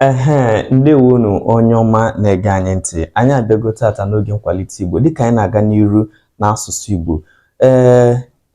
Ehee, ndewonu onye ọma na-ege anyị ntị. Anyị abịago tata n'oge nkwalite Igbo dịka anyị na-aga n'iru n'asụsụ Igbo. Ee,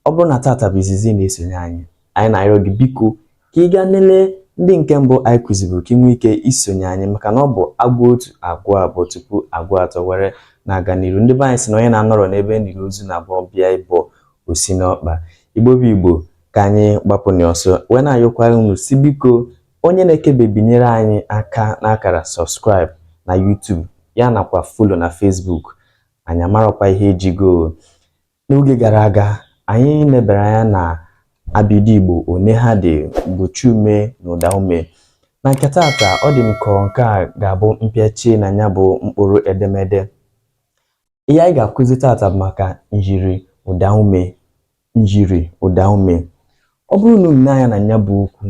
ọ bụrụ na tata bụ izizi na-esonye anyị, anyị na-arịọ gị biko ka ị gaa nele ndị nke mbụ anyị kụziburu ka ị nwee ike isonye anyị maka na ọ bụ a gụa otu a gụa abụọ tupu a gụa atọ were na-aga n'iru. Ndị be anyị sị na onye na-anọrọ n'ebe e niri ozu na-abụ ọ bịa ịbọ o si n'ọkpa. Igbo bụ Igbo ka anyị gbapụ n'ọsọ wee na-ayọkwara unu sị biko Onye na-ekebe binyere anyị aka n'akara subscribe na YouTube ya nakwa follow na Facebook anyị amarakwa ihe ejigo n'oge gara aga anyị nebere anya na abịdịị Igbo one ha dị mgbochi ume na ụda ume na nke taata ọ dị m ka nke a ga-abụ mpịachi na ya bụ mkpụrụ edemede ihe anyị ga-akụzi tata bụ maka myiri ụdaume myiri ụdaume ọ bụrụ na unu nee anya na ya bụ okwu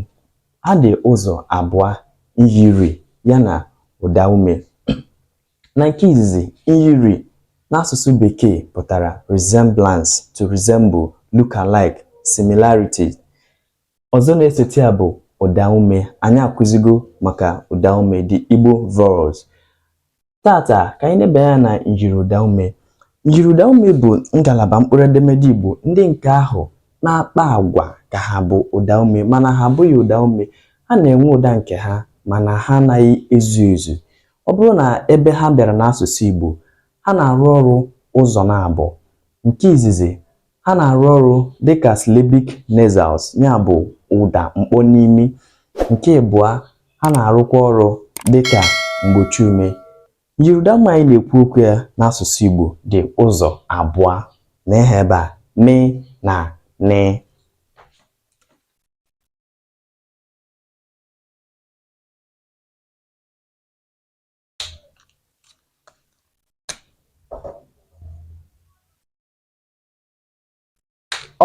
ha dị ụzọ abụọ myiri ya na ụdaume na nke izizi myiri n'asụsụ bekee pụtara resemblance to resemble look alike similarity ọzọ na-esote ya bụ ụdaume anyị akụzigo maka ụdaume the Igbo vowels Tata ka anyị nebe anya na myiriụdaume. Myiriụdaume bụ ngalaba mkpụrụ edemede Igbo ndị nke ahụ na-akpa agwa ka ha bụ ụdaume mana ha abụghị ụdaume. Ha na-enwe ụda nke ha mana ha anaghị ezu ezu. Ọ bụrụ na ebe ha bịara n'asụsụ Igbo, ha na-arụ ọrụ ụzọ naabọ. Nke izizi, ha na-arụ ọrụ dị ka syllabic nasals ya bụ ụda mkpọ n'imi nke ịbụa ha na-arụkwa ọrụ dị ka mgbochi ume myiriụdaume anyị na-ekwu okwu ya n'asụsụ Igbo dị ụzọ abụọ nee ha ebe a me na ne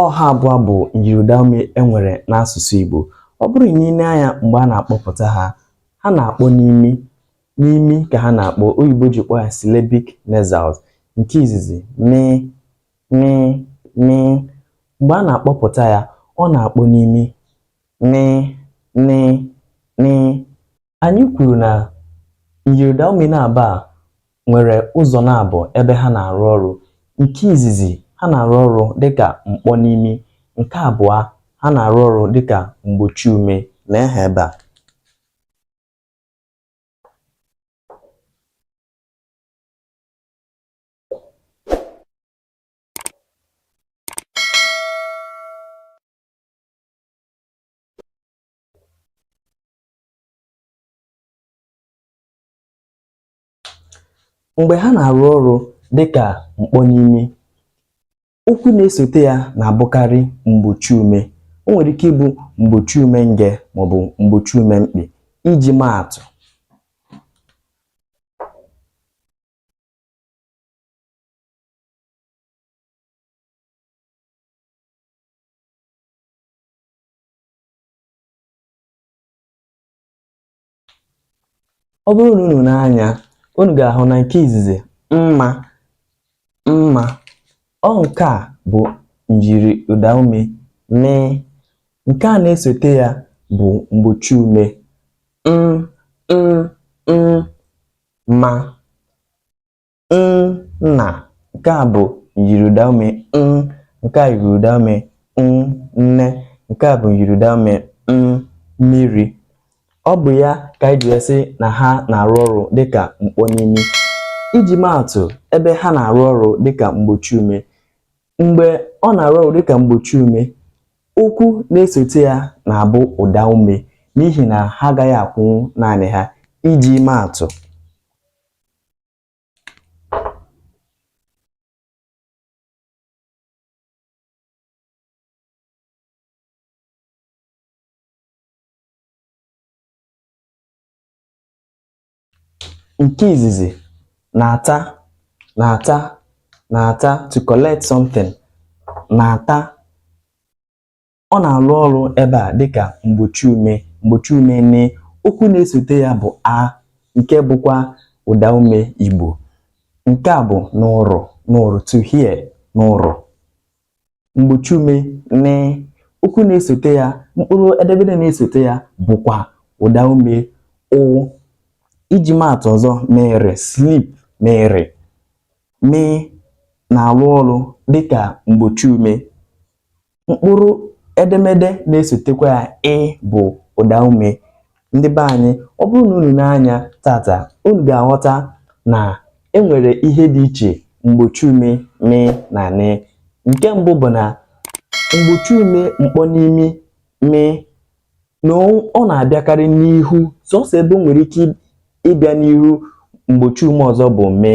ọ ha abụọ bụ myiriụdaume e nwere n'asụsụ Igbo ọ bụrụ na i lee anya mgbe a na-akpọpụta ha ha na-akpọ n'imi n'imi ka ha na-akpọ oyibo ji kpọọ ya syllabic nasals nke izizi mị mị mị mgbe a na-akpọpụta ya ọ na-akpọ n'imi nị nị nị Anyị kwuru na myiriụdaume naabọ a nwere ụzọ naabọ ebe ha na-arụ ọrụ. Nke izizi, ha na-arụ ọrụ dịka mkpọ n'imi. Nke abụọ, ha na-arụ ọrụ dịka mgbochi ume. Nee ha ebe a. mgbe ha na-arụ ọrụ dịkà mkpọnimi okwu na-esote ya na-abụkarị mgbochi ume o nwere ike ịbụ mgbochi ume nge maọbụ mgbochi ume mkpị iji maatụ ọ bụrụ na unu nee anya unu ga-ahụ na nke izizi mma mma ọ nke a bụ nyiri ụda ume mị nke a na-esote ya bụ mgbochi ume m m m ma nna nke a bụ nyiri ụda ume nke a nyiri ụda ume nne nke a bụ nyiri ụda ume mmiri ọ bụ ya ka anyị ji sị na ha na-arụ ọrụ dịka mkpọnimi iji maatụ ebe ha na-arụ ọrụ dịka mgbochi ume mgbe ọ na-arụ ọrụ dịka mgbochi ume okwu na-esote ya na-abụ ụda ume n'ihi na ha agaghị akwụnwu naanị ha iji maatụ nke izizi nata nata nata to collect something nata ọ na-arụ ọrụ ebe a dịka mgbochi ume mgbochi ume nị okwu na-esote ya bụ a nke bụkwa ụda ume Igbo nke a bụ nụrụ nụrụ to hear nụrụ mgbochi ume nị okwu na-esote ya mkpụrụ edemede na-esote ya bụkwa ụda ume ụ iji maatụ ọzọ mịrị slip mịrị mị na-arụ ọrụ dịka mgbochi ume mkpụrụ edemede na-esotekwa ya ị bụ ụda ume ndị be anyị ọ bụrụ na unu nee anya tata unu ga-aghọta na e nwere ihe dị iche mgbochi ume mị na nị nke mbụ bụ na mgbochi ume mkpọnimi mị na ọ na-abịakarị n'ihu sọsọ ebe o nwere ike ịbịa n'ihu mgbochi ume ọzọ bụ mị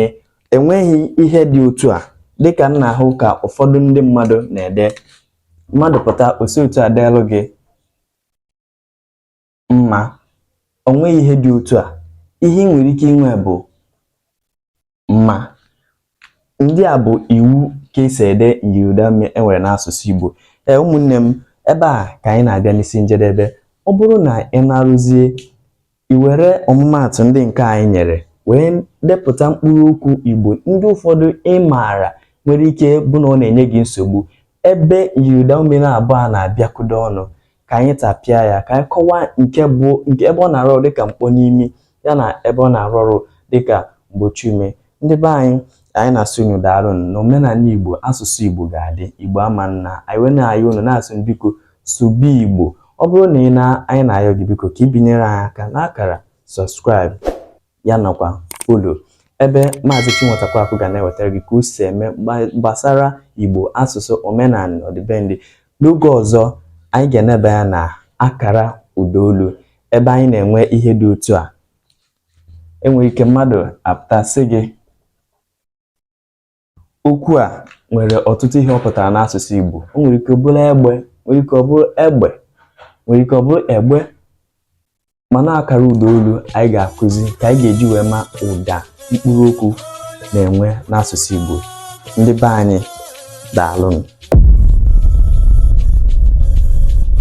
enweghị ihe dị otu a dịka m na-ahụ ka ụfọdụ ndị mmadụ na-ede mmadụ pụta o si otu a deelụ gị mma o nweghị ihe dị otu a ihe i nwere ike inwe bụ mma ndị a bụ iwu ka esi ede myiriụdaume e nwere n'asụsụ Igbo ee ụmụnne m ebe a ka anyị na-abịa n'isi njedebe ọ bụrụ na ị na-arụzie i were ọmụmaatụ ndị nke anyị nyere wee depụta mkpụrụ okwu Igbo ndị ụfọdụ ị maara nwere ike bụ na ọ na-enye gị nsogbu ebe myiriụdaume na-abụọ a na-abịakọdo ọnụ ka anyị tapịa ya ka anyị kọwaa nke bụ nke ebe ọ na-arụ ọrụ dịka mkpọ n'imi ya na ebe ọ na-arụ ọrụ dịka mgbochi ume ndị be anyị anyị na-asị unu daalụ na omenala igbo asụsụ igbo ga-adị igbo ama nna anyị wee na-ayọ unu na-asị unu biko sụba igbo ọ bụrụ na ị na anyị na-ayọ gị biko ka i binyere anyị aka n'akara subscribe ya nakwa follow ebe Maazị Chinweta Kwaku ga na-ewetara gị ka o si eme gbasara Igbo asụsụ omenala ọdịbendị n'oge ọzọ anyị ga-eneba anya na akara ụda olu ebe anyị na-enwe ihe dị otu a enwere ike mmadụ apụta sị gị okwu a nwere ọtụtụ ihe ọ pụtara n'asụsụ Igbo o nwere ike ọ bụrụ egbe nwere ike ọ bụrụ egbe nwere ike ọ bụrụ egbe mana akara ụda olu anyị ga-akụzi ka anyị ga-eji wee ma ụda mkpụrụ okwu na-enwe n'asụsụ Igbo ndị be anyị daalụnụ